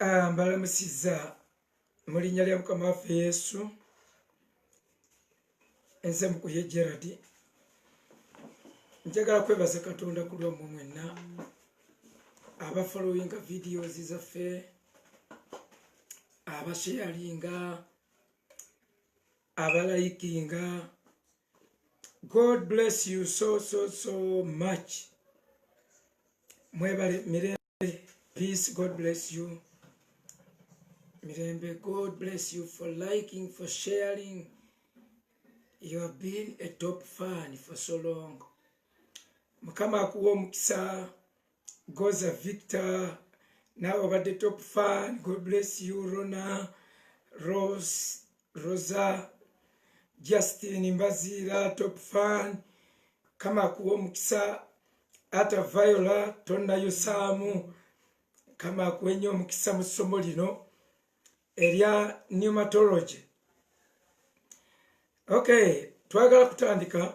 Ah, mbalamusiza mu linnya lya mukama waffe yesu enze mukuye gerard njagala kwebaza katonda ku lwammwe mwenna abafollowinga videos zaffe abasheyalinga abalayikinga god bless you so so so much mwebale mirembe peace god bless you mirembe god bless you for liking for sharing you have been a top fan for so long mukama akuwa omukisa goza victor nawe obadde top fan god bless you rona rose rosa justin mbaziira top fan kama kuwa omukisa ata viola tonayo saamu kama akuwa ennyo omukisa mu ssomo lino erya pneumatology okay twagala kutandika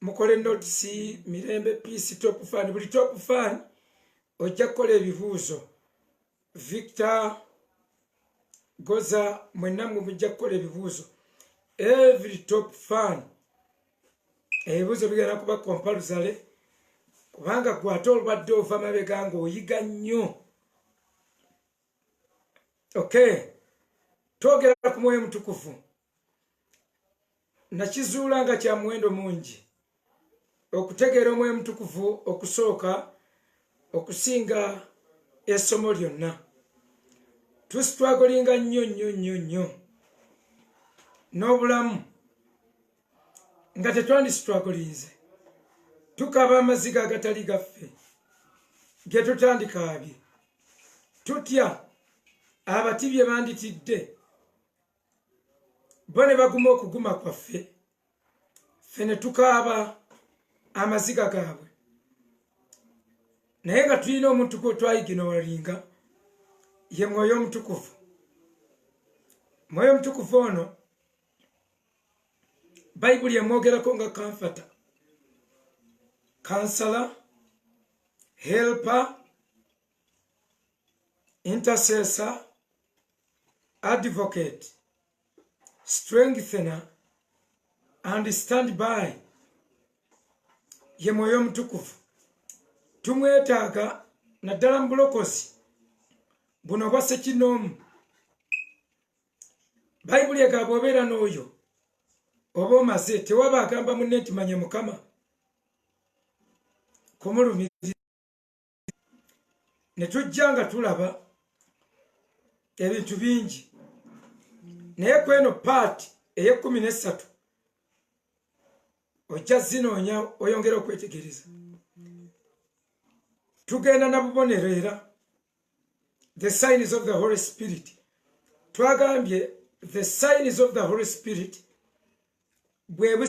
mukole notes mirembe peace top fan buli top fan ojja kukola ebibuuzo victor goza mwenna mwe mujja kukola ebibuuzo every top fan ebibuuzo bigenda kuba kompaluzale kubanga gwe ate olwadde ova mabega nga oyiga nnyo okay twogera ku mwoyo mutukuvu nakizuula nga kya muwendo mungi okutegeera omwoyo omutukuvu okusooka okusinga essomo lyonna tusitwagolinga nnyo nnyo nnyo nnyo n'obulamu nga tetwandisitwagolinze tukaba amaziga agatali gaffe ge tutandikaabye tutya abati bye banditidde bo ne baguma okuguma kwaffe ffe ne tukaaba amaziga gaabwe naye nga tulina omuntu gwetwayigina walinga ye mwoyo omutukuvu mwoyo omutukuvu ono bayibuli emwogerako nga kanfata kansala helpa intercessor advocate strengthener and stand by ye mwoyo omutukuvu tumwetaaga naddala mu bulokozi buno obwa sekinoomu bayibuli egamba obeera n'oyo oba omaze tewaba agamba munne nti manye mukama kumulumiriza ne tujja nga tulaba ebintu bingi naye ku eno paati ey'ekkumi n'essatu ojja zinoonya oyongera okwetegereza tugenda na bubonero era the signs of the holy spirit twagambye the signs of the holy spirit bwe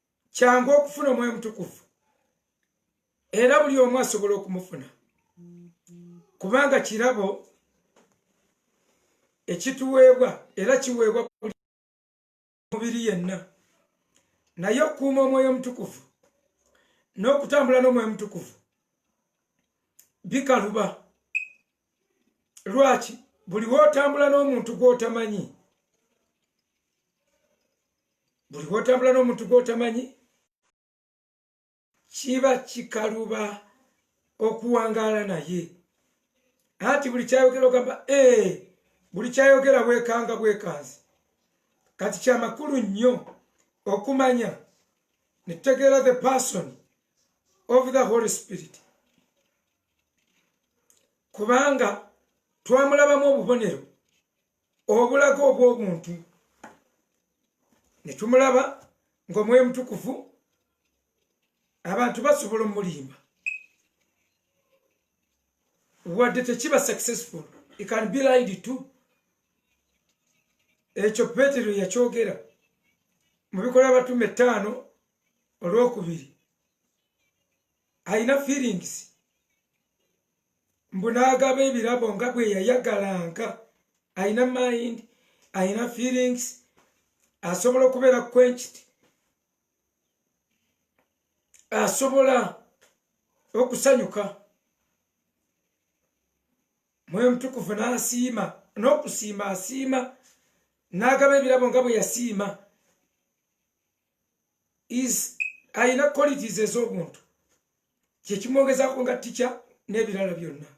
kyangu okufuna omwoyo mutukuvu era buli omu asobola okumufuna kubanga kirabo ekituweebwa era kiweebwa buli mubiri yenna naye okukuuma omwoyo omutukuvu n'okutambula n'omwoyo omutukuvu bikaluba lwaki buli wotambula n'omuntu gwotamanyi buli wotambula n'omuntu gwotamanyi kiba kikaluba okuwangaala naye anti buli kyayogera ogamba ee buli kyayogera bwekanga bwekanzi kati kyamakulu nnyo okumanya netutegeera the person of the holy spirit kubanga twamulabamu obubonero obulaga obw'obuntu ne tumulaba ng'omwoyo omutukuvu abantu basobola omulimba wadde tekiba successful it can be lied to ekyo petero yakyogera mu bikola abatume ettaano olwokubiri alina feelings mbu n'agaba ebirabo nga bwe yayagalanga alina mind alina feelings asobola okubeera kwenkiti asobola okusanyuka mwoyo omutukuvu n'asiima n'okusiima asiima n'agaba ebirabo nga bwe yasiima is alina qualities ez'obuntu kyekimwogezako nga tica n'ebirala byonna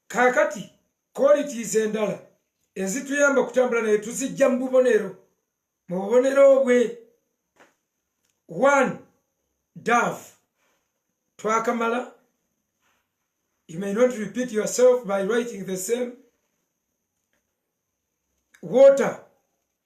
kakati qualities endala ezituyamba okutambula naye tuzijja mu bubonero mu bubonero bwe one dove twakamala you may not repeat yourself by writing the same water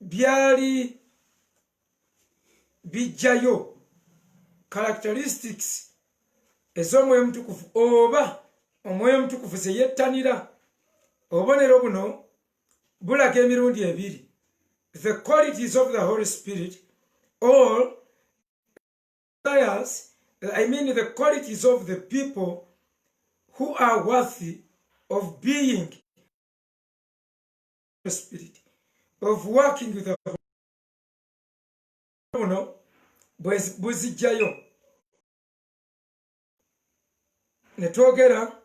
byali bijjayo characteristics ez'omwoyo omutukuvu oba omwoyo omutukuvu ze yettanira obubonero buno bulaga emirundi ebiri the qualities of the holy spirit or desires i mean the qualities of the people who are worthy of being spirit of working with buno buzijjayo ne twogera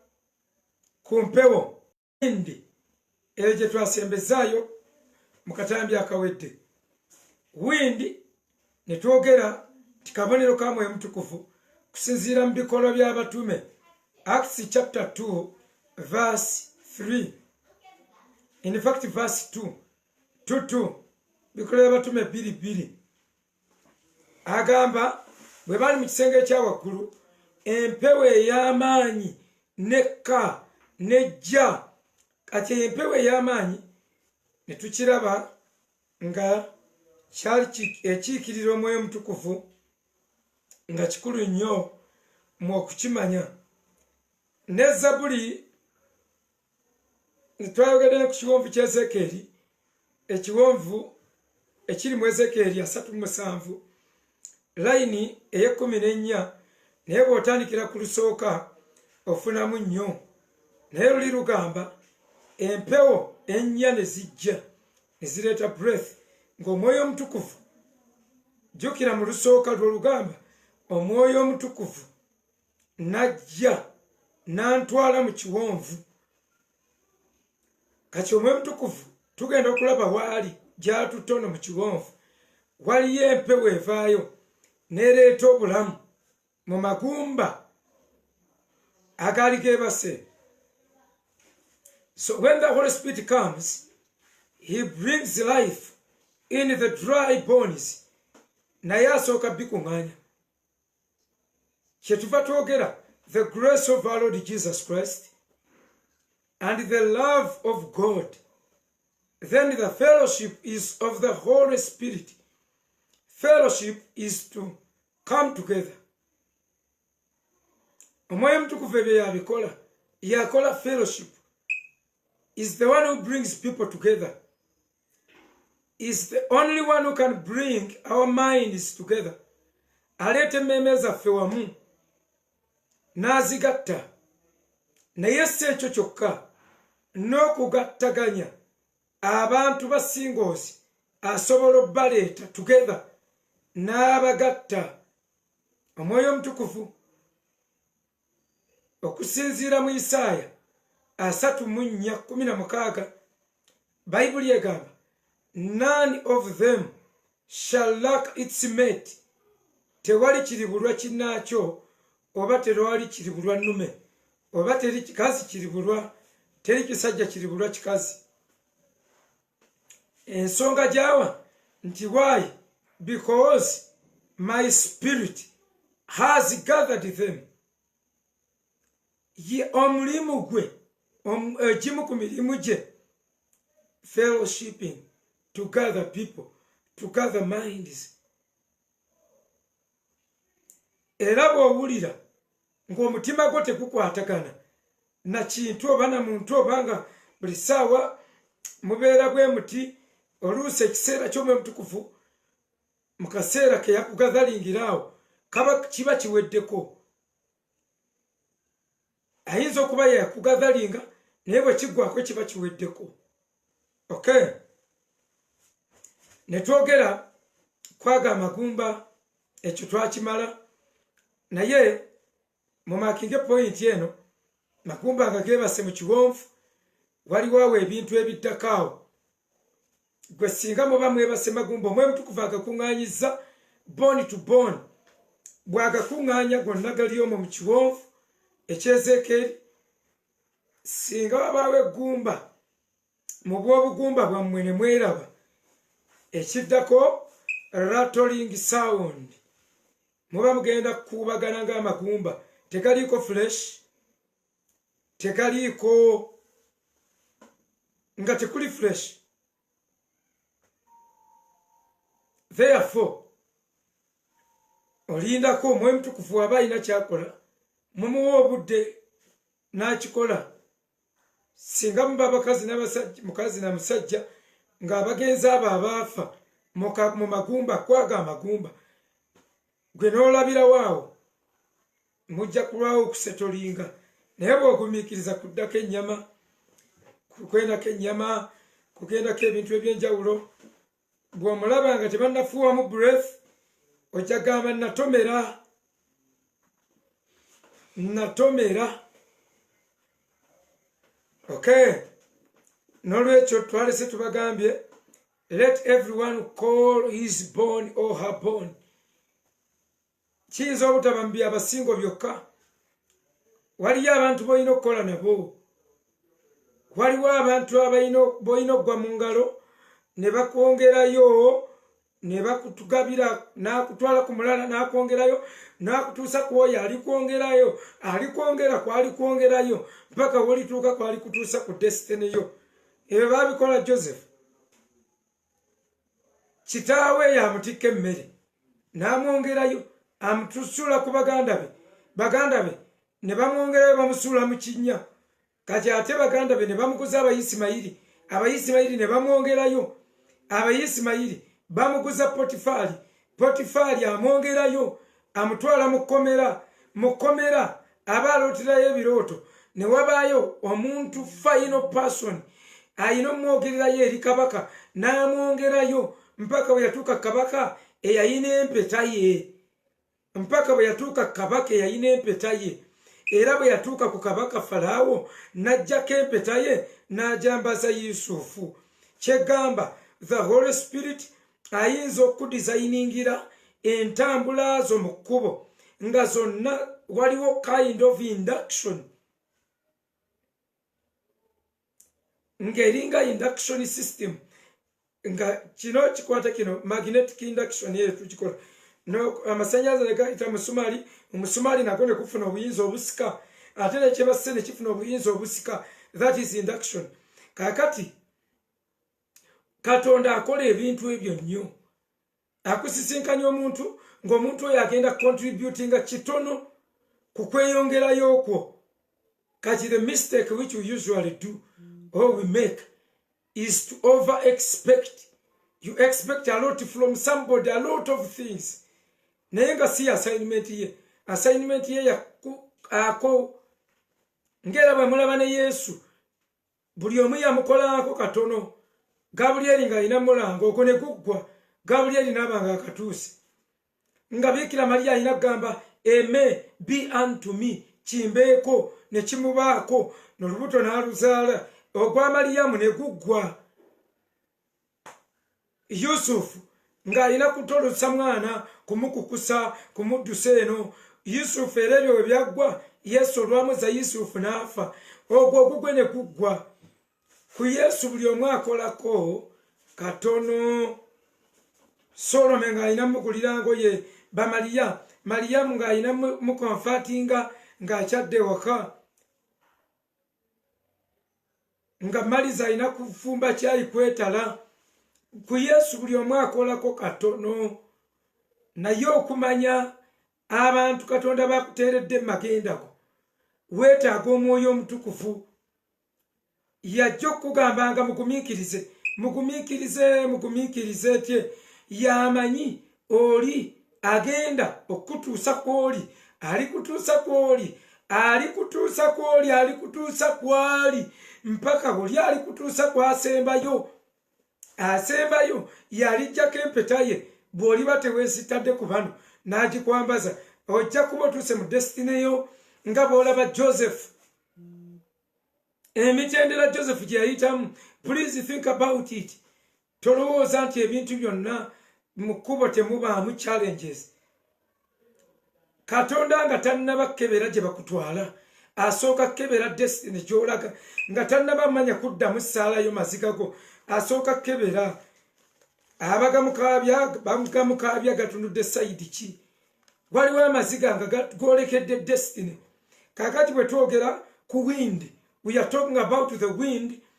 ku mpewo indi eyo gye twasembezaayo mu katambi akawedde windi ne twogera nti kabonero ka mwoyo mutukuvu kusinziira mu bikolwa by'abatume acts chapter 2 verse 3 in fact verse 2 tutu bikolwa by'abatume bbiri bbiri agamba bwe bali mu kisenge ekya waggulu empewo ey'amaanyi nekka nejja kati empewo ey'amaanyi ne tukiraba nga kyali ekiikirira omwoyo omutukuvu nga kikulu nnyo mu okukimanya ne zabuli twayogedde ne ku kiwonvu kya ezekeeri ekiwonvu ekiri mu ezekeeri asatu musanvu layini ey'ekkumi n'ennya naye bw'otandikira ku lusooka ofunamu nnyo naye luli lugamba empewo ennya ne zijja ne zireeta breath ng'omwoyo omutukuvu jjukira mu lusooka lw'olugamba omwoyo omutukuvu najja n'antwala mu kiwonvu kati omwoyo omutukuvu tugenda okulaba waali gyatutono mu kiwonvu waliyo empewo evaayo nereeta obulamu mu magumba agaali gebase so when the holy spirit comes he brings life in the dry bones naye asooka bikuŋŋaanya kyetuva twogera the grace of our lord jesus christ and the love of god then the fellowship is of the holy spirit fellowship is to come together omwoyo omutukuvu ebyo yabikola yakola fellowship is the one who brings people together is the only one who can bring our minds together aleeta emmeeme zaffe wamu n'azigatta naye si ekyo kyokka n'okugattaganya abantu ba singles asobola obbaleeta together n'abagatta omwoyo omutukuvu okusinziira mu isaaya asatu mu nnya kumi na mukaaga bayibuli egamba none of them shall lack its mate tewali kiribulwa kinaakyo oba terwali kiri bulwa nnume oba teri kikazi kiri bulwa teri kisajja kiri bulwa kikazi ensonga gyawa nti why because my spirit has gathered them ye omulimu gwe egimu eh, ku mirimu gye fellowshipping to gather people to gather minds era bwowulira ngaomutima gwo tegukwatagana nakintu oba na muntu oba nga buli saawa mubeera bwe muti oluusi ekiseera kyomwe mutukuvu mu kaseera keyakugadhalingiraawo kaba kiba kiweddeko ayinza okuba yakugadhalinga naye bwekiggwako kiba kiweddeko ok netwogera kwaga amagumba ekyo twakimala naye mumakinge pointi eno magumba nga gebase mu kiwonvu waliwo awo ebintu ebiddako awo gwe singa muba mwebase magumba omwoyo mutukuvu agakuŋŋaanyiza bone to bone bw'agakuŋŋaanya gonna gali omo mu kiwonvu ekyezeekeeri singa wabaawo eggumba mu bw'obugumba bwammwe ne mweraba ekiddako ratoling sound muba mugenda kukuubagana ng'amagumba tegaliiko fuleshi tegaliiko nga tekuli fresh therefore olindako omwoyo mutukufu waba alina kyakola mumuwa obudde n'akikola singa muba abakazi n'abasajja mukazi na musajja ng'abagenzi abo abaafa mu magumba kwaga amagumba gwe n'olabirawo awo mujja kulwawo okusetolinga naye bw'ogumiikiriza kuddako ennyama kukwendako ennyama kugendako ebintu ebyenjawulo bw'omulaba nga tebannafuuwamu breath ojja gamba natomera natomera okay nolwekyo twalese tubagambye let everyone call his born or her born kiyinza obutaba mu byabasingo byokka waliyo abantu bolina okukola nabo waliwo abantu bolina okugwa mu ngalo ne bakwongerayo ne bakutugabira nakutwala ku mulala nakwongerayo nakutuusa ku oyo alikwongerayo alikwongera kwalikwongerayo mpaka wolituuka kwalikutuusa ku desitini yo ebyo babikola joseph kitaawe yamutikka emmere n'amwongerayo amutusuula ku baganda be baganda be ne bamwongerayo bamusuula mu kinnya kati ate baganda be ne bamuguza abayisimayiri abayisimayiri ne bamwongerayo abayisimayiri bamuguza potifaali potifaali amwongerayo amutwala mu kkomera mu kkomera aba alooterayo ebirooto ne wabaayo omuntu final person alina omwogererayo eri kabaka n'amwongerayo mpaka bwe yatuuka kabaka eyalina empeta ye mpaka bwe yatuuka kabaka eyalina empeta ye era bwe yatuuka ku kabaka falaawo n'ajjako empeta ye n'ajambaza yusufu kyegamba the holy spirit ayinza okudizayiningira entambula zo mu kkubo nga zonna waliwo kind of induction ng'eringa induction system nga kino kikwata kino magnetic induction eyo tukikola amasanyalaze negayita musumaali omusumaali nago nekufuna obuyinza obusika ate nekyebasse nekifuna obuyinza obusika that is induction kakati katonda akola ebintu ebyo nnyo akusisinkanya omuntu ng'omuntu oyo agenda contributinga kitono ku kweyongerayo okwo kati the mistake which we usually do or we make is to over expect you expect a lot from somebody a lot of things naye nga si assignment ye assignment ye ako ng'era bwe mulaba ne yesu buli omu yamukolaako katono gabulyeri ng'alina mulanga okwo ne kuggwa gabulyeri n'aba nga akatuuse nga biikira maliya alina kugamba eme be unto me kimbeeko ne kimubaako nolubuto n'aluzaala ogwa maliyamu ne guggwa yusufu ng'alina kutolosa mwana kumukukusa kumuddusa eno yusufu era ebyo we byaggwa yesu olwamuza yusufu n'afa ogwo ogugwe ne guggwa ku yesu buli omu akolako katono solome ng'alina mugulira ngoye bamaliya maliyamu ng'alina mukonfatinga ng'akyadde waka nga maliza alina kufumba kyayi kwetala ku yesu buli omu akolako katono naye okumanya abantu katonda bakuteeredde mumagendako weetaaga omwoyo omutukuvu yajja okukugamba nga mugumiikirize mugumiikirize mugumiikirize tye yamanyi oli agenda okukutuusa kwoli alikutuusa kwoli alikutuusa kwoli alikutuusa kwali mpaka buli alikutuusa kwasembayo asembayo yalijjako empeta ye bw'oliba teweesitadde ku bano n'agikwambaza ojja kuba otuuse mu desitine yo nga bw'olaba joseph emitendera joseph gye yayitamu please think about it tolowooza nti ebintu byonna mu kkubo temubaamu challenges katonda nga tannaba kukebera gye bakutwala asooka kukebera destiny gyolaga nga tannaba manya kuddamu saalayo mazigago asooka kukebera abagamukaabya bagamukaabya gatunudde sayidi ki waliwo amaziga nga golekedde destiny kakati bwe twogera ku wind we are talking about the wind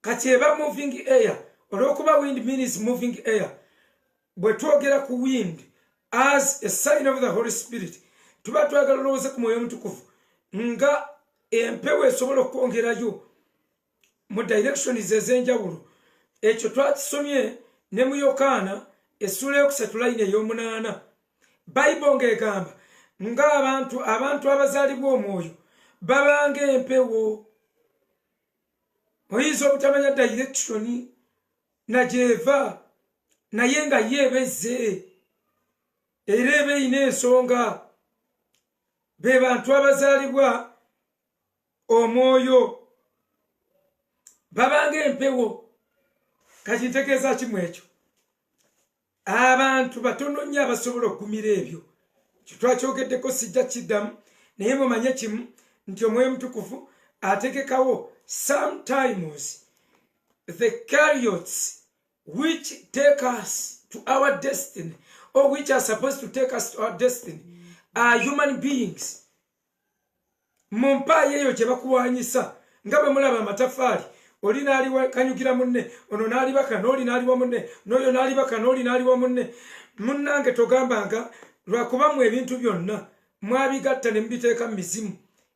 kati eba moving air olwokuba wind means moving air bwe twogera ku wind as a sign of the holy spirit tuba twagala olowooze ku mwoyo omutukuvu nga empewo esobola okwongerayo mu directions ez'enjawulo ekyo twakisomye ne mu yokaana essuula yokusatu layini ey'omunaana bayibo ng'egamba ng'abantu abantu abazaalibwa omwoyo babanga empewo oyinza obutamanya dayirekushoni nagyeva naye nga ye ebezze era eba eyina ensonga be bantu abazaalibwa omwoyo babanga empewo kati ntegeeza kimu ekyo abantu batono nnyo abasobola okugumira ebyo kyetwakyogeddeko sijja kiddamu naye mumanye kimu nti omwoyo mutukuvu ategekawo sometimes the cariots which take us to our destiny or which are supposed to take us to our destiny are human beings mu mpaayo eyo kye bakuwanyisa nga bwe mulaba amatafaali oli n'alikanyukira munne ono n'alibaka n'oli n'aliwa munne n'oyo n'alibaka n'oli n'aliwa munne munnange togambanga lwakuba mu ebintu byonna mwabigatta ne mubiteeka mu mizimu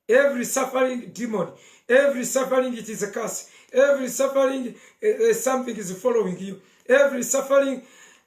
every suffering demon every suffering it is a curse every suffering uh, something is following you every suffering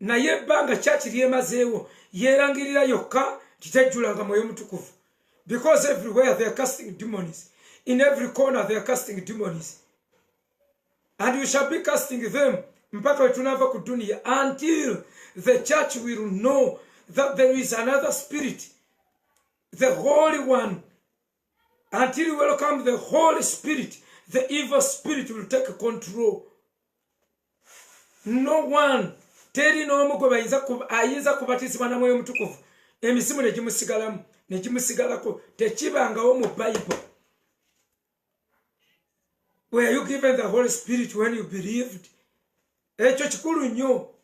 naye ebbanga kyaki lyemazeewo yeerangirira yokka kitejjulanga mwoyo mutukuvu because everywhere they are casting demons in every corner they are casting demons and you shall be casting them mpaka wetunaava ku duniya until the church will know that there is another spirit the holy one until you welcome the holy spirit the evil spirit will take control no one teri n'omu gwe bayinza ayinza kubatizibwa na mwoyo omutukuvu emisimu ne gimusigalamu ne gimusigalako tekibangawo mu bible were you given the holy spirit when you believed ekyo kikulu nnyo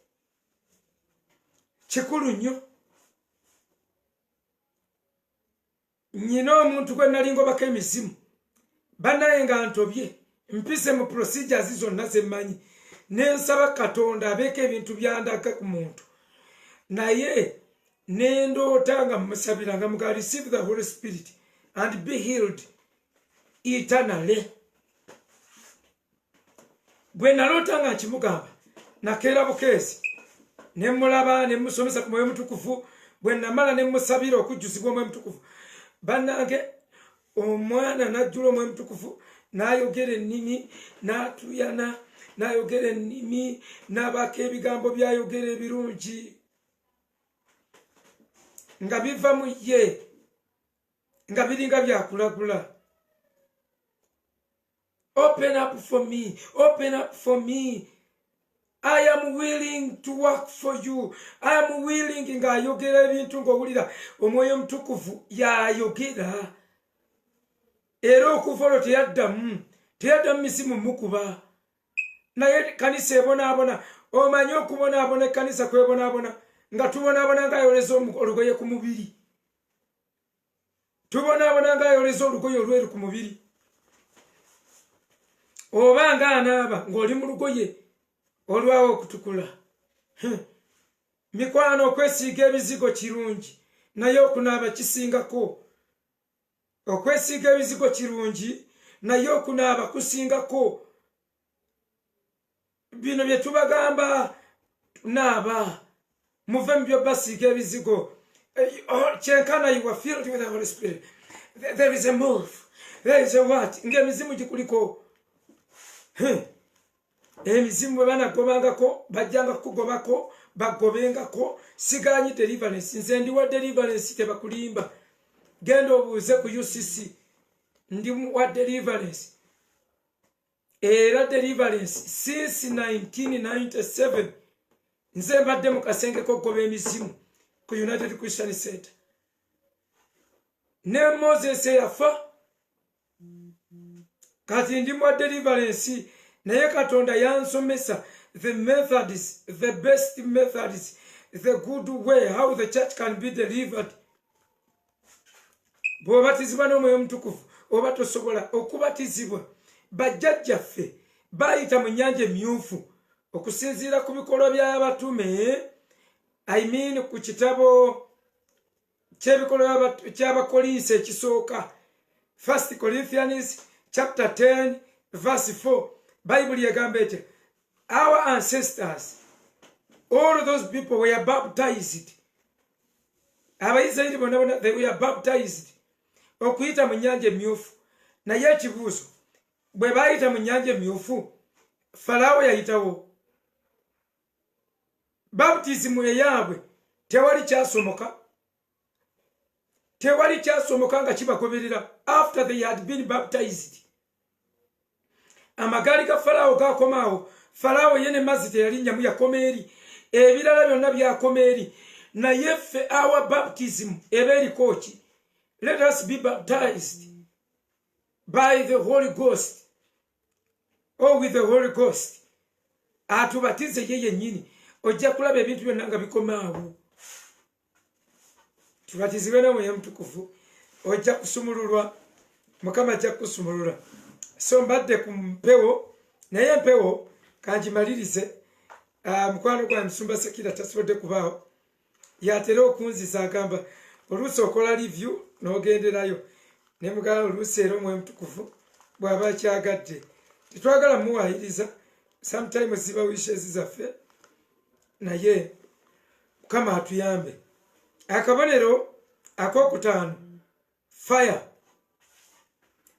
kikulu nnyo nyina omuntu gwe nali ngobako emizimu banaye nga ntobye mpise mu procedures zonna zemanyi nensaba katonda abeeko ebintu byandaga ku muntu naye nendoota nga musabira nga muga receive the holy spirit and be healed eternally gwe naloota nga nkimugamba nakeera bukeezi ne mmulaba ne mmusomesa ku mwoyo mutukuvu bwe namala ne mmusabira okujjuzibwa omwoyo mutukuvu bannange omwana najjula omwoyo mutukuvu n'ayogera ennimi n'atuyana n'ayogera ennimi n'abaako ebigambo by'ayogera ebirungi nga biva mu ye nga biringa byakulagula open up for me open up for me i am willing to work for you i am willing ng'ayogera ebintu ng'owulira omwoyo omutukuvu y'ayogera era okuva olwo teyaddamu teyaddamu misimu mukuba naye kanisa ebonaabona omanyi okubonaabona ekkanisa kwebonaabona nga tubonaabona ng'ayoleza olugoye ku mubiri tubonaabona ng'ayoleza olugoye olweru ku mubiri oba ng'anaaba ng'oli mu lugoye olwawo okutukula mikwano okwesiiga ebizigo kirungi naye okunaaba kisingako okwesiiga ebizigo kirungi naye okunaaba kusingako bino bye tubagamba naaba muve mu byobasiiga ebizigo Eh, oh, kyenkana you were filled with the holy spirit There- there is a move there is a what ng'emizimu gikuliko Huh. emizimu bwe banagobangako bajjanga kukugobako bagobengako siganyi deliverance nze ndiwa deliverance tebakulimba genda obuuze ku ucc ndi wa deliverance era deliverance since 1997 nze mbadde mu kasenge kokugoba emizimu ku united christian center ne moses eyafa kati ndi mwa deliverance naye katonda yansomesa the methods the best methods the good way how the church can be delivered bwebabatizibwa n'omwoyo omutukuvu oba tosobola okubatizibwa bajjajjaffe bayita mu nyanja emyufu okusinziira ku bikolwa by'abatume i mean ku kitabo kyebikolwa kyabakolinsi ekisooka first corinthians chapter 10 verse 4 bayibuli egamba etya our ancestors all those people were baptized abaisirairi bona bona they were baptized okuyita mu nyanja emyufu naye ekibuuzo bwe baayita mu nyanja emyufu falaawo yayitawo baptisimu eyaabwe tewali kyasomoka tewali kyasomoka nga kibagoberera after they had been baptized amagaali ga falaawo gakomaawo falaawo ye ne mazzi teyalinnyamu yakoma eri ebirala byonna byakoma eri naye ffe awa baptism eba eriko ki let us be baptized by the holy ghost or oh, with the holy ghost atubatize ye yennyini ojja kulaba ebintu byonna nga bikomaawo kiba kizibe nomwoyo mutukuvu ojja kusumululwa mukama ajja kukusumulula so mbadde ku mpewo naye empewo kangimalirize ah, mukwano gwa musumba sekira tasobodde kubaawo yatera okunziza agamba oluusi okola livyu nogenderayo nemugala oluusi era omwoyo mutukuvu bwaba akyagadde tetwagala muwayiriza sometimes ziba wishes zaffe naye mukama atuyambe akabonero akokutaano fire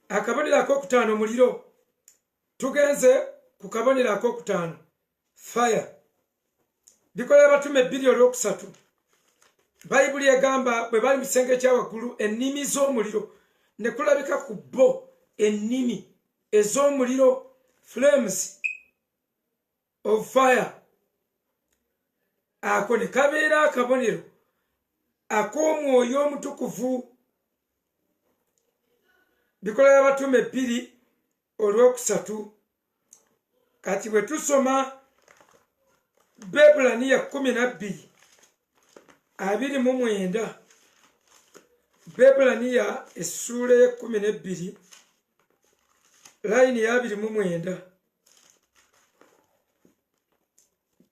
akabonero akokutaano muliro tugenze ku kabonero akokutaano fire bikolera batume ebbiri olwokusatu bayibuli egamba bwe bali mu kisenge ekyawaggulu ennimi z'omuliro ne kulabika ku bo ennimi ez'omuliro flames of fire ako ne kabeera akabonero ak'omwoyo omutukuvu bikola y'abatume bbiri olwokusatu kati bwe tusoma bebulaniya kumi nabbiri abiri mu mwenda bebulaniya essuula y'ekkumi n'ebbiri layini y'abiri mu mwenda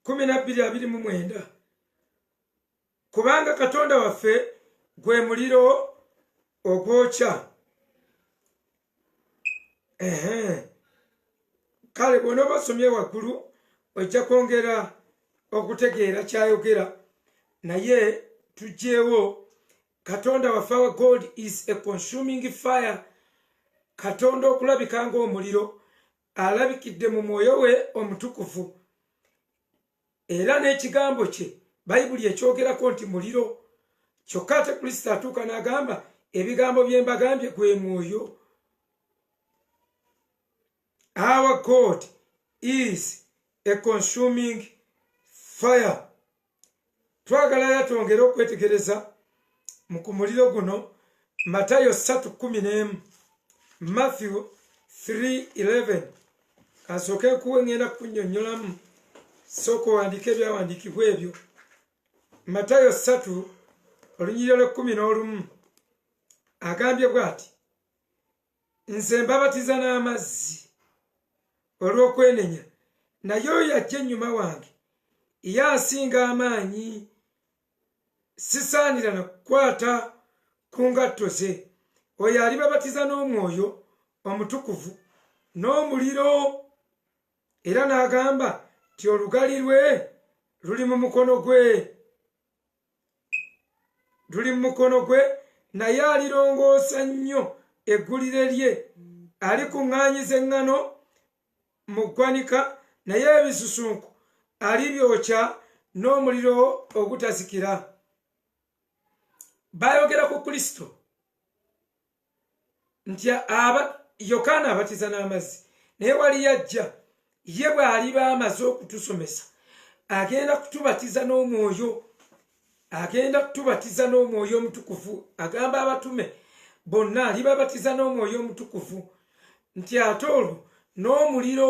kumi nabbiri abiri mu mwenda kubanga katonda waffe gwe muliro ogwokya kale bwona obasomye waggulu ojja kwongera okutegeera kyayogera naye tugyewo katonda waffe our god is a consuming fire katonda okulabika ngaomuliro alabikidde mu mwoyo we omutukuvu era n'ekigambo kye bayibuli ekyogerako nti muliro kyokka ate kristo atuuka n'agamba ebigambo bye mbagambye gwe mwoyo Our God is a consuming fire. Twagala era twongere okwetegereza mu ku muliro guno Matayo 3:11, Matthew 3:11. Kasooke kuwe ngenda kunyonyolamu sooka owandiika ebyawandiikibwa ebyo. Matayo 3 olunyiriro lw'ekkumi n'olumu agambye bw'ati nze mbabatiza n'amazzi olw'okwenenya naye oyo ajja ennyuma wange ye asinga amaanyi sisaanira na kukwata ku ngatto ze oyo alibabatiza n'omwoyo omutukuvu n'omuliro era n'agamba nti olugali lwe luli mu mukono gwe luli mu mukono gwe naye alirongoosa nnyo eggulire lye alikuŋŋaanyiza eŋŋano mu ggwanika naye ebisusunku alibyokya n'omuliro ogutazikira baayogera ku kristo nti aba yokaana abatiza n'amazzi naye wali yajja ye bw'aliba amaze okutusomesa agenda kutubatiza n'omwoyo agenda kutubatiza n'omwoyo omutukuvu agamba abatume bonna alibabatiza n'omwoyo omutukuvu nti ate olwo n'omuliro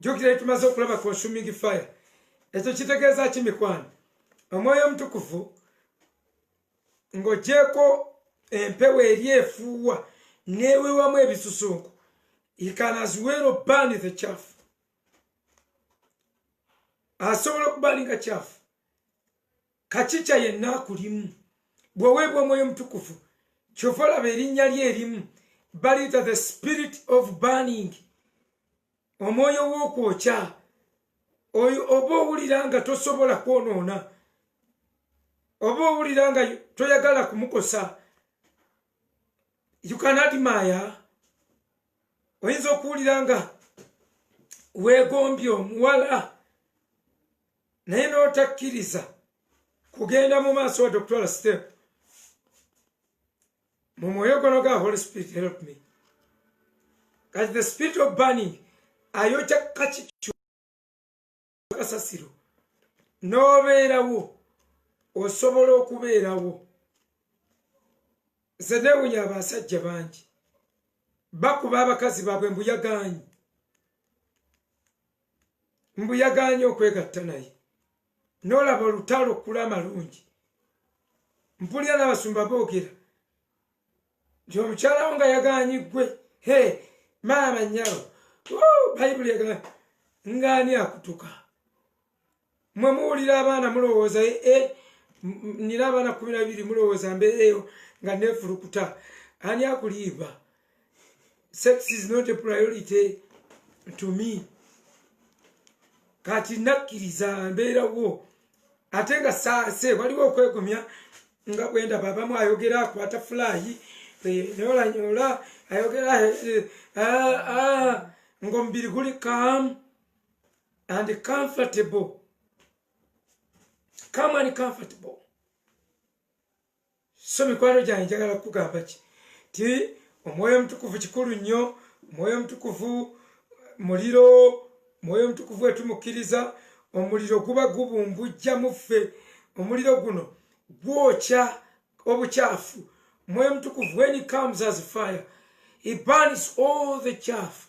jukira etumaze okulaba consuming fire ekyo kitegeeza ki mikwano omwoyo omutukuvu ng'ogyeko empewo eri efuuwa newewamu ebisusunku ikanaziwero bani the chafu asobola okuba alinga chafu kacica yenna akulimu bweweebwa omwoyo omutukuvu kyova olaba erinnya lye erimu baliyita the spirit of burning omwoyo w'okwokya oyo oba owulira nga tosobola kwonoona oba owulira nga toyagala kumukosa yukanadimaya oyinza okuwulira nga weegombye omuwala naye n'otakkiriza kugenda mu maaso wadde okutwala step mu mwoyo gono ga holy spirit help me kati the spirit of burning ayokya kakikyo kasasiro n'obeerawo osobola okubeerawo nze newunya abasajja bangi bakuba abakazi baabwe mbuyaganyi mbu yaganye okwegatta naye nolaba olutalo okula amalungi mpulira n'abasumba boogera nti omukyalawo nga yaganye ggwe he maama nyalo bayibuli egana ngaani akutuka mwe muwulira abaana mulowooza e eh, eh, nina abaana kumi nabiri mulowooza mbeereeyo nga nefulukuta ani akuliiva sex is not a priority to me kati nakkiriza mbeerawo ate nga saase waliwo okwegumya nga bwenda babamu ayogera akwata fulayi eh, nolanyola ayogera ah, ah, ngaomubiri guli kamu and comfortable. Come and comfortable. So mikwano gyange njagala kukugamba ki ti omwoyo omutukuvu kikulu nnyo omwoyo omutukuvu muliro omwoyo omutukuvu wetumukkiriza omuliro guba gubumbujja muffe omuliro guno gwokya obukyafu omwoyo omutukuvu when he comes as fire he burns all the chaff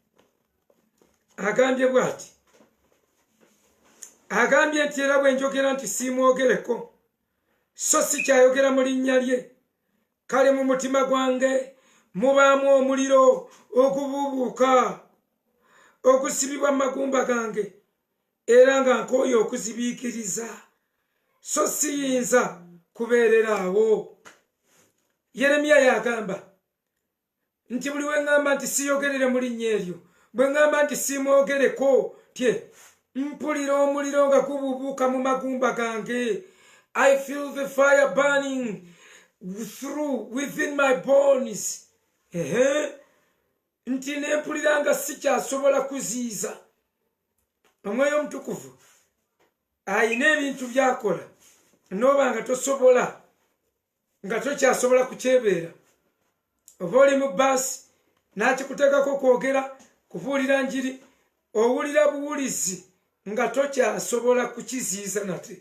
agambye bwati agambye nti era bwenjogera nti siimwogereko so si kyayogera mu linnya lye kale mu mutima gwange mubaamu omuliro ogubuubuuka ogusibibwa mu magumba gange era nga nkooyo okuzibiikiriza so siyinza kubeerera awo yeremiya yagamba nti buli weŋŋamba nti siyogerere mu linnya eryo bwe ŋŋamba nti siimwogereko tye mpulira omuliro nga gububuuka mu magumba gange i feel the fire burning through within my bones ehe nti ne mpulira nga sikyasobola kuziiza omwoyo omutukuvu alina ebintu byakola nooba nga tosobola nga tokyasobola kukyebeera oba oli mu baasi n'akikuteekako kwogera kubuulira njiri owulira buwulizi nga tokyasobola kukiziyiza nate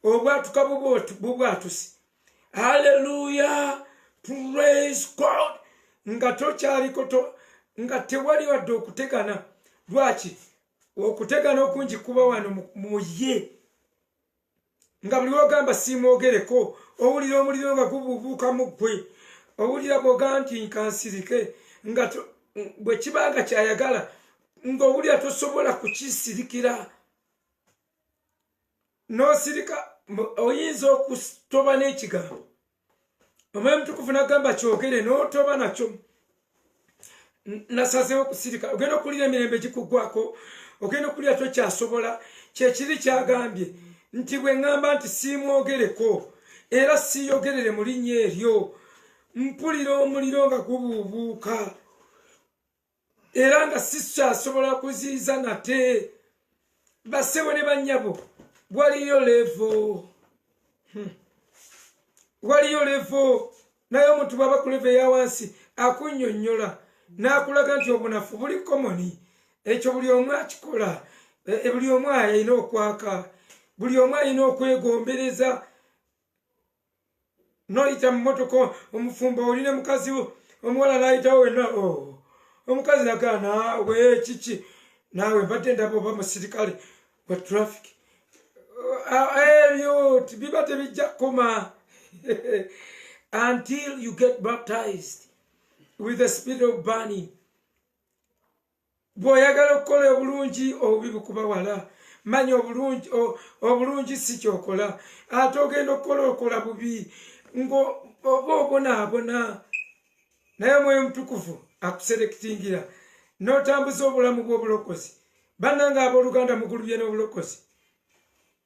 obwatuka bubwatusi halleluya praise god nga tokyaliko nga tewali wadde okutegana lwaki okutegana okungi kuba wano mu ye nga buli wogamba siimwogereko owulira omuliro nga gubuubuuka mu ggwe owulira bwoga nti nkansirike nga bwe kiba nga kyayagala ng'owulira tosobola kukisirikira n'osirika oyinza okutoba n'ekigambo omwoyo mutukuvu nagamba kyogere notoba nakyo nasazewo kusirika ogenda okuwulira emirembe gikugwako ogenda okuwulira tokyasobola kyekiri kyagambye nti bwe ŋŋamba nti siimwogereko era siiyogerere mu linnya eryo mpulira omuliro nga gubuubuuka era nga sikyasobola kuziiza nate basebo ne banyabo waliyo levo hmm. waliyo levo naye omuntu bwaba kuleva eyawansi akunyonyola nakulaga nti obunafu buli komoni ekyo buli omu akikola e, e, buli omu alina okwaka buli omu alina okwegombereza noyita mumotoka omufumbo oli ne mukazi wo omuwala nayitawo wena oh. omukazi nagaa naawe kiki naawe mbadde ndaba oba musirikale wa traffic ebyo ah, eh, biba tebijja kukoma until you get baptized with the spirit of burning Bw'oyagala okukola obulungi obubi bukuba wala, manya obulungi obulungi si kyokola, ate ogenda okukola okola bubi ng'oba obonaabona. Naye omwoyo omutukuvu akuserekitingira n'otambuza obulamu bw'obulokozi. Bannange abooluganda mugulubye n'obulokozi.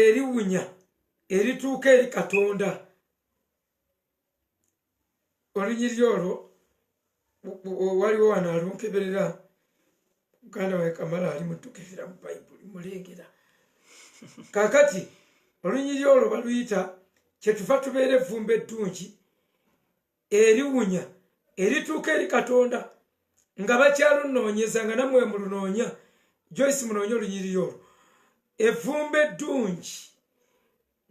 eriwunya erituuka eri katonda olunyiriri olwo waliwo wano alunkeberera muganda wae kamala ali mutukirira mu bayibuli mulengera kakati olunyiriri olwo baluyita kyetuva tubeera evvumba eddungi eriwunya erituuka eri katonda nga bakyalunoonyeza nga namwe mulunoonya joyce munoonya olunyiriri olwo evumba eddungi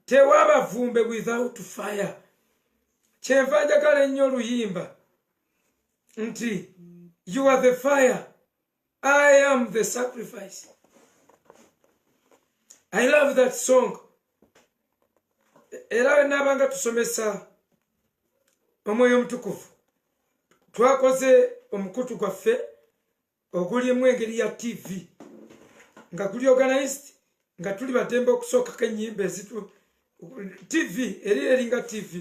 tewaba vumbe without fire kyenva njagala ennyo oluyimba nti you are the fire I am the sacrifice. I love that song. Era nabanga tusomesa omwoyo omutukuvu twakoze omukutu gwaffe ogulimu engeri ya tv nga guli organized nga tuli batembe okusookako enyimba ezitu tv eri eringa tv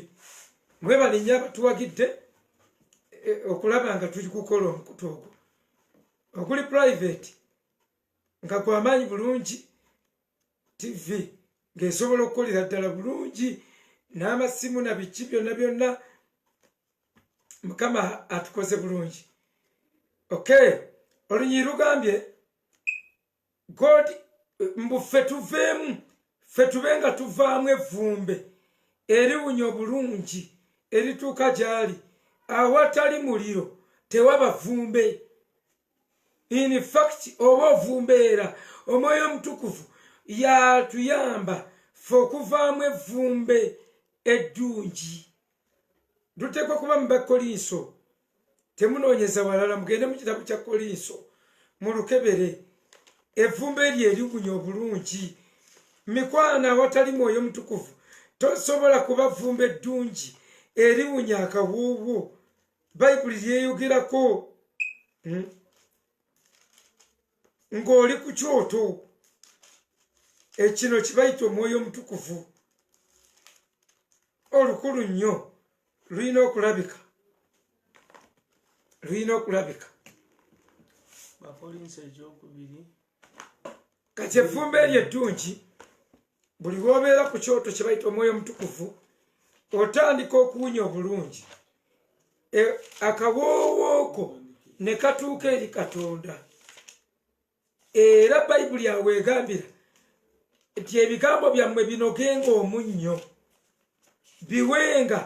mwebalinya abatuwagidde e, okulaba nga tuli kukola omukutu ogwo okuli private nga gwamaanyi bulungi tv ng'esobola okukolera ddala bulungi n'amasimu na biki byonna byonna mukama atukoze bulungi okay olunyiri lugambye god mbu ffe tuveemu ffe tube nga tuvaamu evvumbe eriwunya obulungi erituuka gy'ali awatali muliro tewaba vvumbe in fact oba ovumbeera omwoyo omutukuvu yatuyamba fe okuvaamu evvumbe eddungi luteekwa kuba mu bakolinso temunoonyeza walala mugende mu kitabo kya kolinso mu lukebere evvumba eryo eriwunya obulungi mikwano awatali mwoyo mutukuvu tosobola kuba vvumba eddungi eriwunya akawuuwo bayibuli lyeyogerako hmm? ng'oli ku kyoto ekino kibayita omwoyo omutukuvu olukulu nnyo lulina okulabika lulina okulabika kati efumba eryo eddungi buli lwobeera ku kyoto kyebayita omwoyo omutukuvu otandika okuwunya obulungi e, akawoowooko ne katuuka eri katonda era bayibuli awo egambira nti ebigambo byammwe binogenga omunnyo biwenga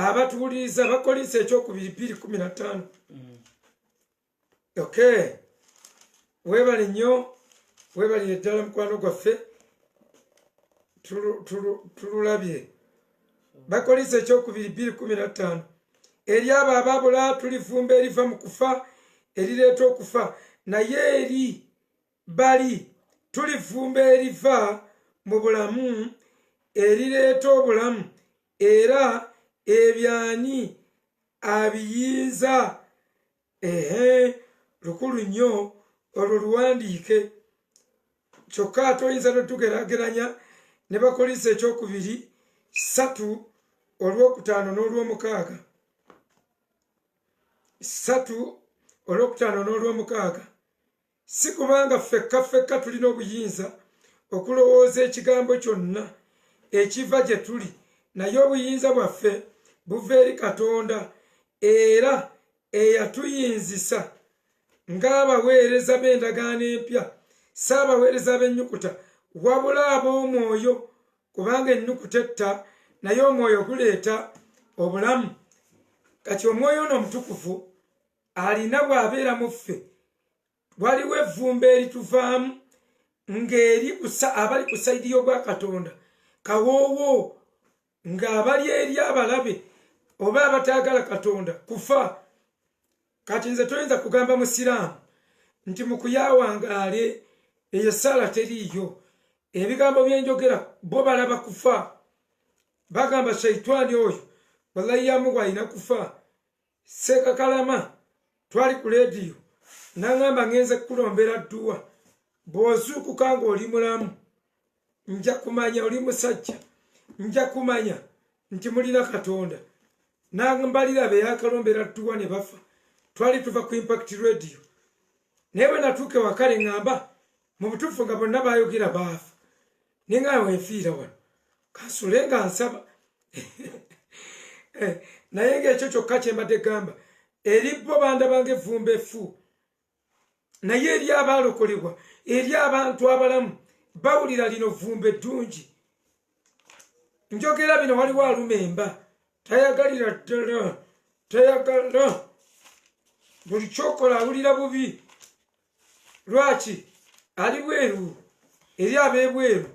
abatuwuliriza bakolinsa ekyokubiri biri kumi na ttaano mm. okay webale nnyo webalire ddala mukwano gwaffe tululabye bakolisa ekyokubiri bbiri kumi na ttaano eri abo ababula tulifumba eriva mu kufa erireeta okufa naye eri bali tulifumba eriva mu bulamu erireeta obulamu era ebyani abiyinza ehe lukulu nnyo olwo luwandiike kyokka ate oyinza notugerageranya ne bakolisa ekyokubiri satu olwokutaano n'olwomukaaga satu olwokutaano n'olwomukaaga si kubanga ffekka ffekka tulina obuyinza okulowooza ekigambo kyonna ekiva gye tuli naye obuyinza bwaffe buva eri katonda era eyatuyinzisa ng'abaweereza b'endagaano empya si abaweereza b'ennyukuta wabula ab'omwoyo kubanga ennyukuta etta naye omwoyo guleeta obulamu kati omwoyo ono omutukuvu alina bw'abeera mu ffe waliwo evvumba erituvaamu ng'eri abali ku sayidi y'obwa katonda kawoowo ng'abali eri abalabe oba abataagala katonda kufa kati nze toyinza kugamba musiraamu nti mukuyawangaale eyo esaala teriiyo ebigambo byenjogera bo balaba kufa bagamba shaitwani oyo wallahi yamuwa alina kufa sekakalama twali ku lediyo naŋamba ŋenze kukulombera dduwa bw'ozuukuka ng'oli mulamu nja kumanya oli musajja nja kumanya nti mulina katonda nambalira beyakalombera dduwa ne bafa twali tuva ku impact radio naye bwe natuuka ewakale ŋamba mu butuufu nga bonna bayogera baafa naye nga wenfiira wano kansule nga nsaba eh, naye ngaekyo kyokka kyembadde gamba eri bo banda bange evvumba effu naye eri abaalokolebwa eri abantu abalamu bawulira lino vvumba eddungi njogera bino waliwo aluma emba tayagalira ddala tayagala buli kyokola awulira bubi lwaki ali bweru eri abebweru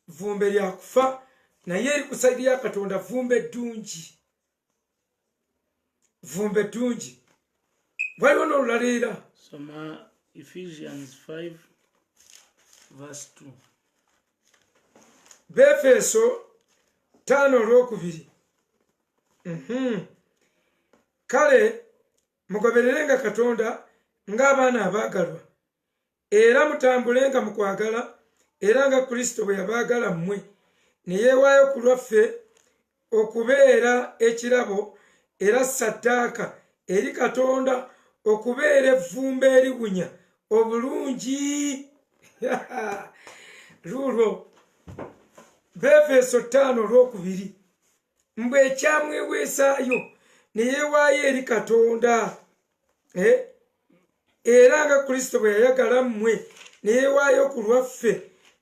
vumbe lyakufa naye eri kusaidi ya katonda vumbe ddungi vumbe ddungi waliwo nolulala era soma ephesians 5 verse 2 befeso taano olwokubiri mhm. kale mugobererenga katonda ng'abaana abaagalwa era mutambulenga mu kwagala era nga kristo bwe yabaagala mmwe ne yeewaayo ku lwaffe okubeera ekirabo era saddaaka eri katonda okubeera evvumba eriwunya obulungi luulwo befeeso ttaano olwokubiri mbu ekyamweweesaayo ne yeewaayo eri katonda eh? era nga kristo bwe yayagala mmwe ne yeewaayo ku lwaffe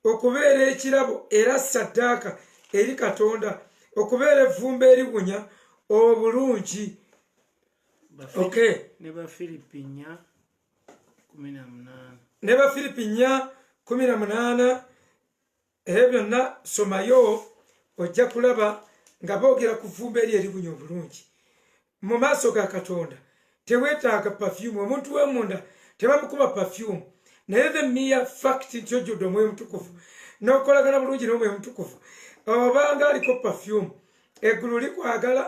okubeera ekirabo era saddaaka eri katonda okubeera evvumba eriwunya obulungi okay. ne bafiripi nya kumi na munaana ebyo byonna somayo ojja kulaba nga boogera ku vumba eri eribunya obulungi mu maaso ga katonda tewetaaga pafyumu omuntu wemunda tebamukuba pafyumu naye the mere fact nti ojjudde omwoyo mutukuvu nokolagana bulungi nomwoyo mutukuvu obanga aliko pafyumu eggulu likwagala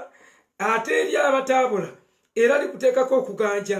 ate eri abataabula era likuteekako okuganja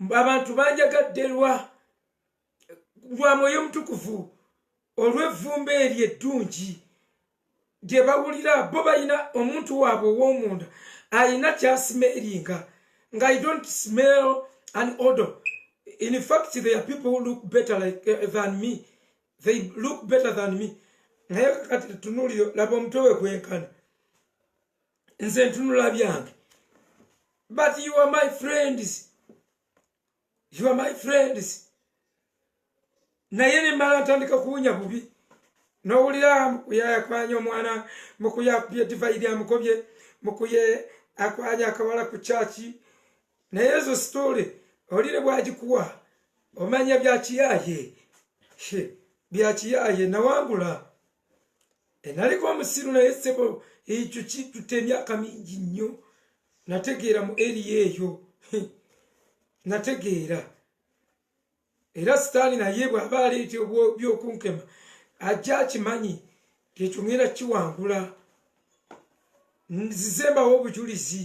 mbu abantu banjagadde lwa lwa mwoyo omutukuvu olw'evvumba eryo eddungi gye bawulira bo balina omuntu waabwe ow'omunda alina kyasimeeringa nga i don't smell an odor in fact there are people who look better like, uh, than me they look better than me naye kakati tunuulire laba omutwe we gwenkana nze ntunula byange but you are my friends you are my friends naye nemmala ntandika kuwunya bubi nowulira mukuye yakwanya omwana mukuye akubye divayiri amukobye mukuye akwanya akawala ku kyaki naye ezo sitole olire bwagikuwa omanya byakiyaye byakiyaye nawangula enaliko omusiru naye sebo ekyo kitute emyaka mingi nnyo nategeera mu eriya eyo nategeera era sitaani naye bw'aba aleeta byokunkema ajja akimanyi ekyo ŋera kiwangula nzizembawo obujulizi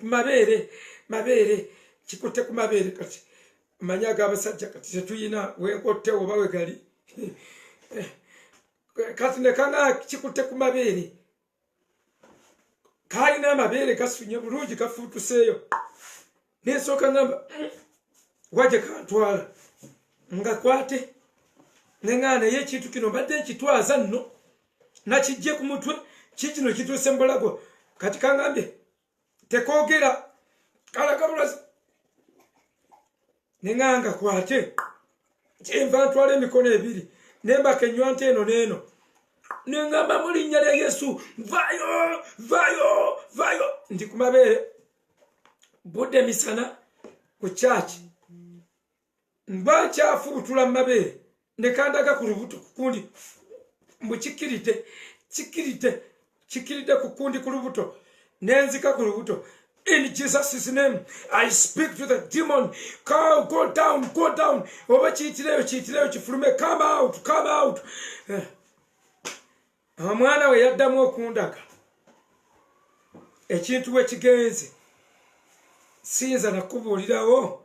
mabeere mabeere kikutte ku mabeere kati manya ag'abasajja kati tetuyina wenkotte oba wegali eh, kati nekana kikutte ku mabeere kalina amabeere gasunye bulungi gafuutuseeyo nensooka ngamba waje kantwala ngakwate nengana naye ekintu kino mbadde nkitwaza nno nakijje ku mutwe kikino kituuse mubulago kati kangambye tekogera kalagabulazi neŋanga kwate kyenva ntwala emikono ebiri nembaka enywanta eno neeno neŋamba mu linnya lya yesu vayo vayo vayo ndi ku mabeere budde misana ku kyaki mba nkyafubutula mu mabeere ne kandaga ku lubuto ku kundi mbu kikiridde kikiridde kikiridde ku kundi ku lubuto nenzika ku lubuto in jesus' name i speak to the demon Cow, go down go down oba kiyitireyo kiyitireyo kifulume come out come out eh. omwana we yaddamu okundaga ekintu we kigenze siyinza nakubuulirawo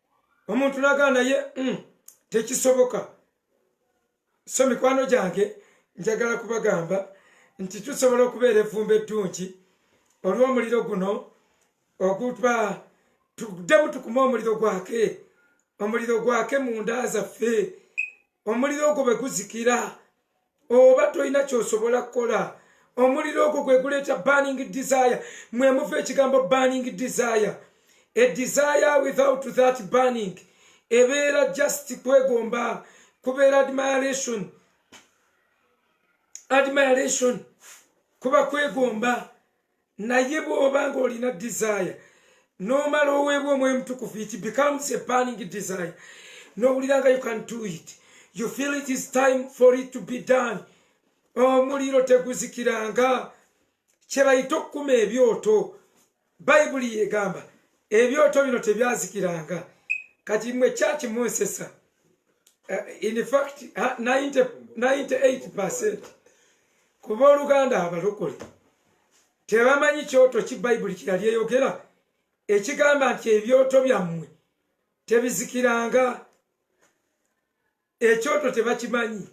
omuntu nagaa naye mm, tekisoboka so mikwano gyange njagala kubagamba nti tusobola okubeera evvumba eddungi olw'omuliro guno oguba tuddemu tukume omuliro gwake omuliro gwake munda zaffe omuliro ogwo bwe guzikira oba tolina kyosobola kukola omuliro ogwo gwe guleeta burning desire mwe muva ekigambo burning desire a desire without that burning ebeera just kwegomba kubeera admiration admiration kuba kwegomba naye bwoba nga olina desire nomala oweebwa omwoyo mutukufu it becomes a burning desire nowulira nga you can do it you feel it is time for it to be done omuliro teguzikiranga kyebayita okukuma ebyoto bayibuli yegamba ebyoto bino tebyazikiranga kati mwe kyaki munsesa uh, in fact 98 percent ku booluganda abalokole tebamanyi kyoto ki bayibuli kyeyali eyogera ekigamba nti ebyoto byammwe tebizikiranga ekyoto tebakimanyi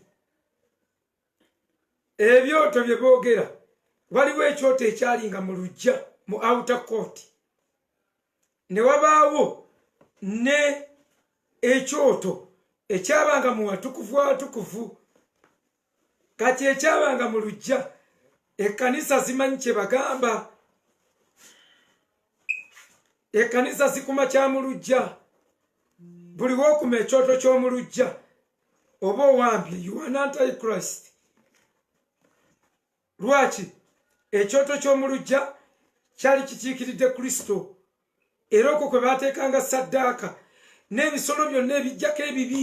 ebyoto bye boogera waliwo ekyoto ekyalinga mu lujja mu outer court ne wabaawo ne ekyoto ekyabanga mu watukuvu watukuvu kati ekyabanga mu lujja ekkanisa zimanyi kye bagamba ekkanisa zikuma kya mu lujja buli wokuma ekyoto ky'omu lujja oba owambye yuanantichrist lwaki ekyoto ky'omu lujja kyali kikiikiridde kristo era okwo kwe baateekanga saddaaka n'ebisolo byonna ebijjako ebibi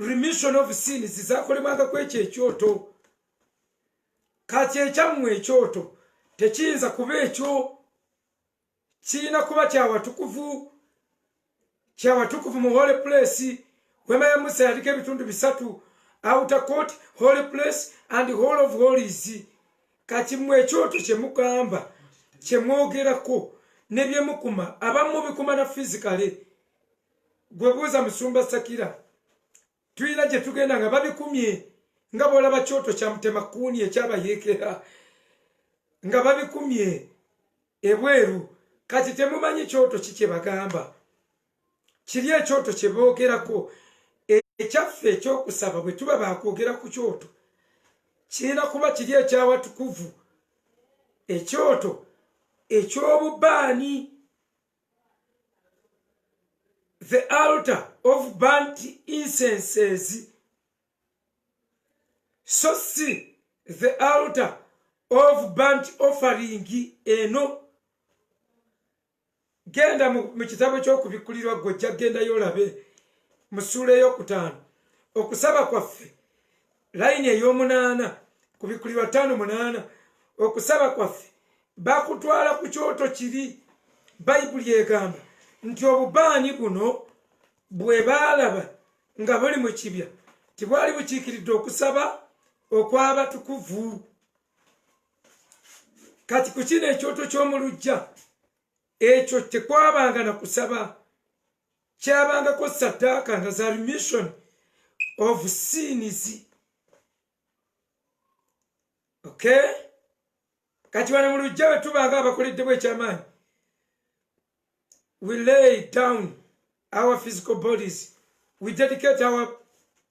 remission of sins zakolebwanga ku ekyo ekyoto kati ekyammwe ekyoto tekiyinza kuba ekyo kirina kuba kyawatukuvu kyawatukuvu mu holy place wema ya musa yaliko ebitundu bisatu outer court holy place and hall of holies kati mwe ekyoto kyemugamba kyemwogerako nebyemukuma abamu bikuma na physically gwebuuza musumba sakira tulina gye tugenda nga babikumye nga bwolaba kyoto kya mutemakuuni ekyabayeekera nga babikumye ebweru kati temumanyi kyoto ki kye bagamba kiri ekyoto kye boogerako ekyaffe ekyokusaba bwe tuba baakwogera ku kyoto kirina kuba kiri ekyawatukuvu ekyoto ekyobubaani the altar of burnt incenses so si the altar of burnt offering eno genda mu kitabo ky'okubikkulirwa gwe ojja kugendayo olabe mu ssuula ey'okutaano okusaba kwaffe layini ey'omunaana ku bikuli bataano munaana okusaba kwaffe bakutwala ku kyoto kiri bayibuli egamba nti obubaani buno bwe baalaba nga buli mu kibya tibwali bukiikiridde okusaba okw'abatukuvu kati ku kino ekyoto ky'omu lujja ekyo tekwabanga na kusaba kyabangako saddaaka nga za remission of sins okay kati wano mu lujja bwe tuba nga abakoleddemu ekyamaanyi we lay down our physical bodies we dedicate our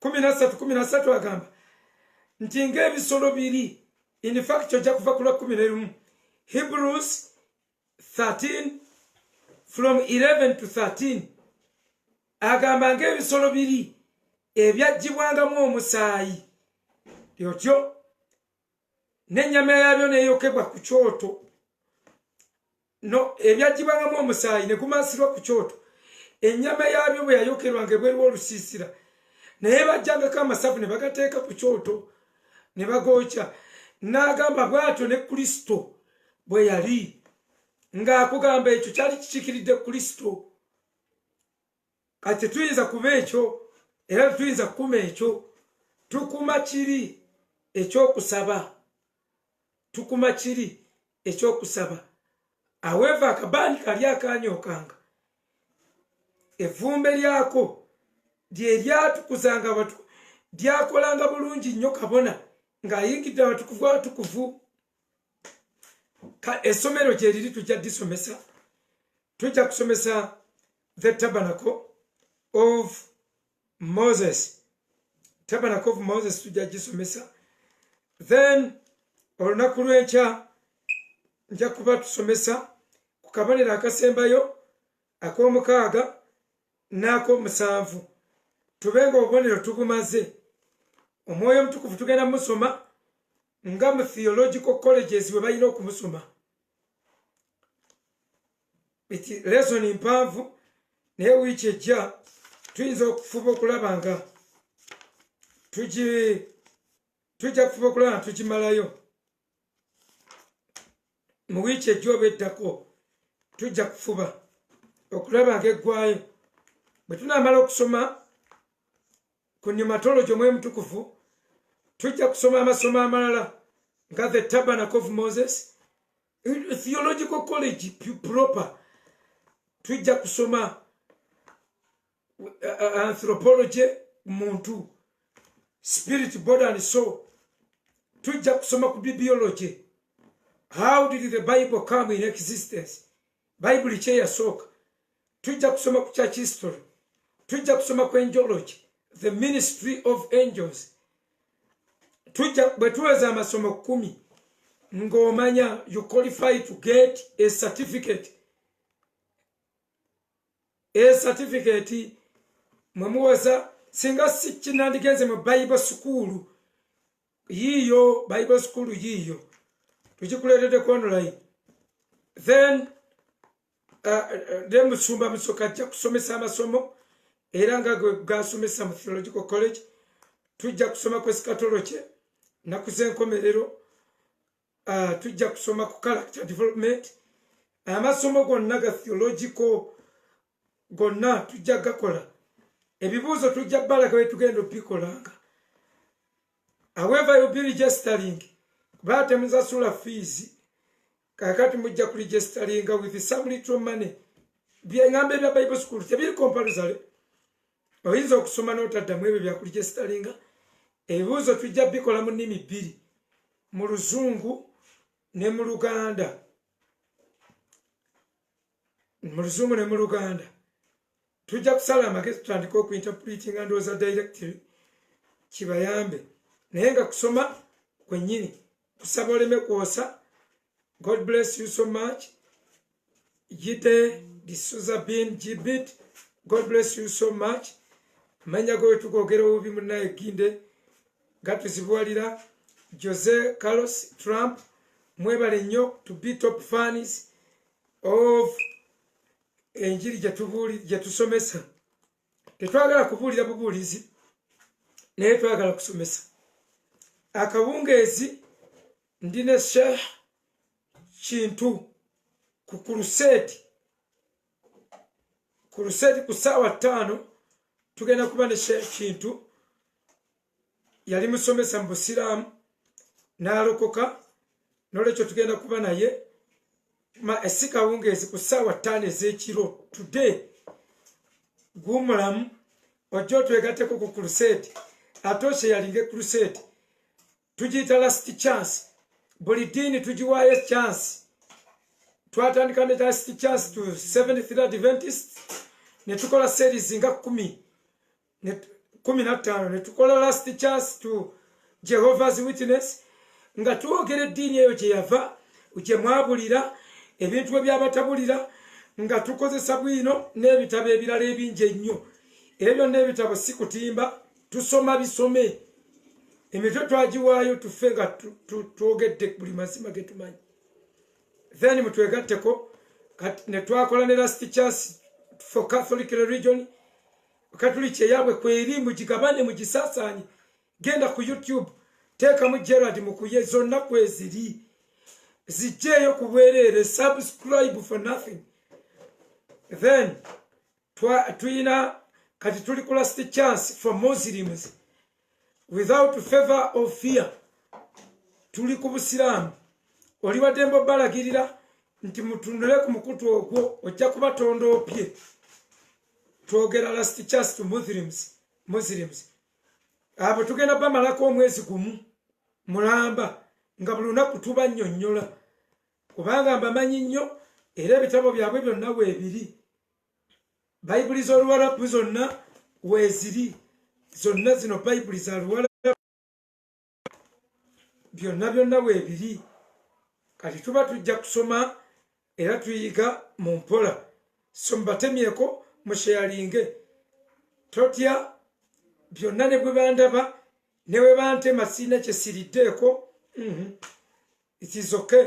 kumi nasatu kumi nasatu agamba nti ngaebisolo biri infact ojja kuva kulwa kumi nerumu hebrews 13 from 11 to 13 agamba ngaebisolo biri ebyajjibwangamu omusaayi lyotyo nenyama yabyo neyokebwa ku kyoto no ebyaggibangamu omusaayi ne gumansirwa ku kyoto ennyama yaabyo bwe yayokerwanga ebweriwo olusiisira naye bajjangako amasavu ne bagateeka ku kyoto ne bagookya n'agamba bw'atyo ne kristo bwe yali ng'akugamba ekyo kyali kikikiridde kristo kati tetuyinza kuba ekyo era tetuyinza kukuma ekyo tukuma kiri ekyokusaba tukuma kiri ekyokusaba aweva akabaani kali akanyokanga evumbe lyako lyeryatukuzanga batu lyakolanga bulungi nnyo kabona ngaayingidde abatukuvu abatukuvu esomero gyeriri tujja disomesa tujja kusomesa the tabernacle of moses tabernacle of moses tujja gisomesa then olunaku lwenkya nja kuba tusomesa ku kabonero akasembayo ak'omukaaga n'ak'omusanvu tube nga obubonero tubumaze omwoyo omutukuvu tugenda musoma nga mu theological colleges bwe balina okumusoma lesoni mpanvu naye wiiki ejja tuyinza okufuba okulaba nga tujja kufuba okulaba nga tukimalayo mu wiiki ejja oba eddako tujja kufuba okulaba nga eggwayo bwe tunaamala okusoma ku nyumatologi omwemutukuvu tujja kusoma amasomo amalala nga the tabernacle of moses theological college proper tujja kusoma uh, uh, anthropology muntu spirit body and soul tujja kusoma ku biology how did the bible come in existence bayibuli kyeyasooka tujja kusoma ku church history tujja kusoma ku angeology the ministry of angels tujja bwe tuweza amasomo kumi ng'omanya you qualify to get a certificate e certificate mwe muweza singa sikinandigenze mu bible sukuulu yiiyo bible school yiiyo tukikuleetedde ku online then uh, uh, ne musumba musoka ajja kusomesa amasomo era nga gasomesa mu theological college tujja kusoma kwesikatolo kye naku zenkomerero uh, tujja kusoma ku character development amasomo gonna ga theological gonna tujja gakola ebibuuzo tujja balaga wetugenda obikolanga however you be registering kuba temuzasula fees kakati mujja ku registeringa with some little money byengamba ebya bible school tebiri comparasory oyinza okusoma n'otaddamu ebyo byakuli gyesitalinga ebibuuzo tujja bikola mu nnimi bbiri mu luzungu ne mu luganda mu luzungu ne mu luganda tujja kusala amagezi tutandika okuinterpretinga ndowooza directory kibayambe naye nga kusoma kwennyini kusaba oleme kwosa God bless you so much. Yite D'Souza Bin Jibit. God bless you so much. Manya go to go get over Munai Ginde. Gatu Zibualira. Jose Carlos Trump. Mwebale nyo to be top fans of enjiri jatubuli jatusomesa. Tetwagala kubuulira bubuulizi naye twagala kusomesa. Akawungeezi ndi ne sheikh kintu ku kuruseedi kuruseedi ku ssaawa ttaano tugenda kuba ne sheikh kintu yali musomesa mu busiraamu n'alokoka nolwekyo tugenda kuba naye ma esikawungeezi ku ssaawa ttaano ez'ekiro today guumulamu ojja otwegateko ku kuruseedi ate osheyalinga ekuruseedi tugiyita last chance buli diini tugiwaayo chance twatandika ne last chance to seventh third adventist ne tukola series nga kumi kumi na ttaano ne tukola last chance to jehovah's witness nga twogera eddiini eyo gye yava gye mwabulira ebintu bwe byabatabulira nga tukozesa bwino n'ebitabo ebirala ebingi ennyo ebyo byonna ebitabo si kutimba tusoma bisome emitwe twagiwaayo tufe nga twogedde buli mazima getumanyi then mutwegatteko netwakola ne last chance for catholic religion katuliki eyabwe kweri mugigabane mugisasaanye genda ku youtube teekamu gerard mukuye zonna kweziri zijjeeyo ku bwereere subscribe for nothing then tuyina kati tuli ku last chance for muslims without favor of fear tuli ku busiraamu oli wadembe obalagirira nti mutundule ku mukutu ogwo ojja kuba tondoopye twogera last chance to muslims muslims abo tugenda bamalako omwezi gumu mulamba nga buli lunaku tuba nnyonnyola kubanga mbamanyi nnyo era ebitabo byabwe byonna weebiri bayibuli z'oluwalabu zonna weeziri zonna zino bayibuli za luwalabu byonna byonna weebiri kati tuba tujja kusoma era tuyiga mu mpola so mubatemyeko musheyalinge totya byonna ne bwe bandaba ne bwe bantema sirina kye siriddeeko mhm. it is okay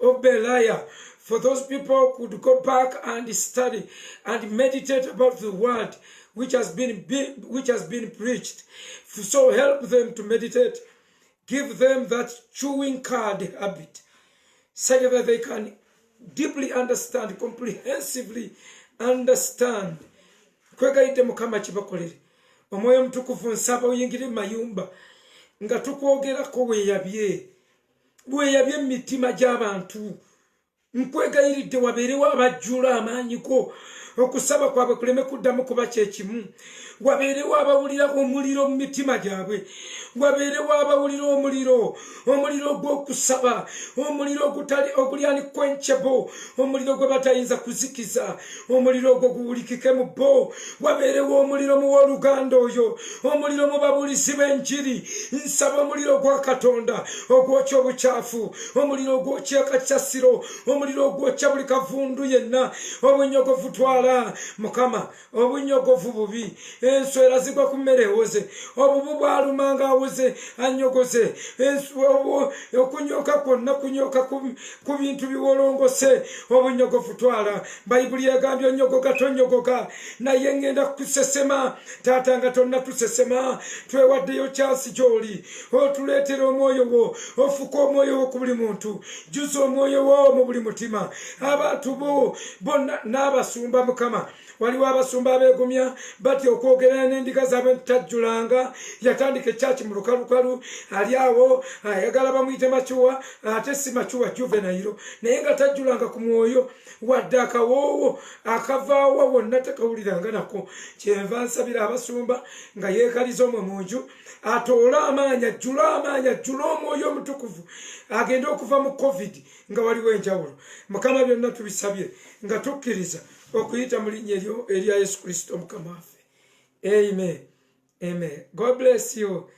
of Belial. For those people could go back and study and meditate about the word which has been, be, which has been preached. So help them to meditate. Give them that chewing card habit, such that they can deeply understand, comprehensively understand. kwegayidde mukama kibakolere omwoyo omutukuvu nsaba oyingire mu mayumba nga tukwogerako weeyabye lweyabye emitima gy'abantu nkwegayiridde wabeerewo abajjula amaanyi go okusaba kwabwe kuleme kuddamu kuba kyekimu wabeerewo abawulira omuliro mu mitima gyabwe wabeerewo abawulira omuliro omuliro gw'okusaba omuliro oguli ani kwenkyebo omuliro gwe batayinza kuzikiza omuliro ogwo guwulikike mu bo wabeerewo omuliro mu w'oluganda oyo omuliro mu babulizi b'enjiri nsaba omuliro gwa katonda ogwokya obukyafu omuliro ogwokya akakyasiro omuliro ogwokya buli kavundu yenna obunyogovu twala mukama obunyogovu bubi enswera zigwa ku mmere ewoze obubu bwalumanga awoze anyogoze okunyoka kwonna kunyoka ku bintu biwolongose obunyogofu twala bayibuli yagambye onyogoka tonyogoka naye ngenda kukusesema taata nga tonna tusesema twewaddeyo kyasi gyoli otuleetera omwoyo wo ofuka omwoyo wo ku buli muntu juza omwoyo wo mu buli mutima abantu bo bonna n'abasumba mukama waliwo abasumba abeegumya batya okwogerana n'endiga zaabwe ntitajjulanga yatandika ekyaki mu lukalukalu ali awo ayagala bamuyite macuwa ate si macuwa juvenayiro naye nga tajjulanga ku mwoyo wadde akawoowo akavaawa wonna tekawuliranga nako kyenva nsabira abasumba nga yeekaliza omwe mu nju atoole amaanyi ajjule amaanyi ajjule omwoyo omutukuvu agende okuva mu covid nga waliwo enjawulo mukama byonna tubisabye nga tukkiriza okuyita mu linnya eryo erya yesu kristo mukama waffe amen amen god bless you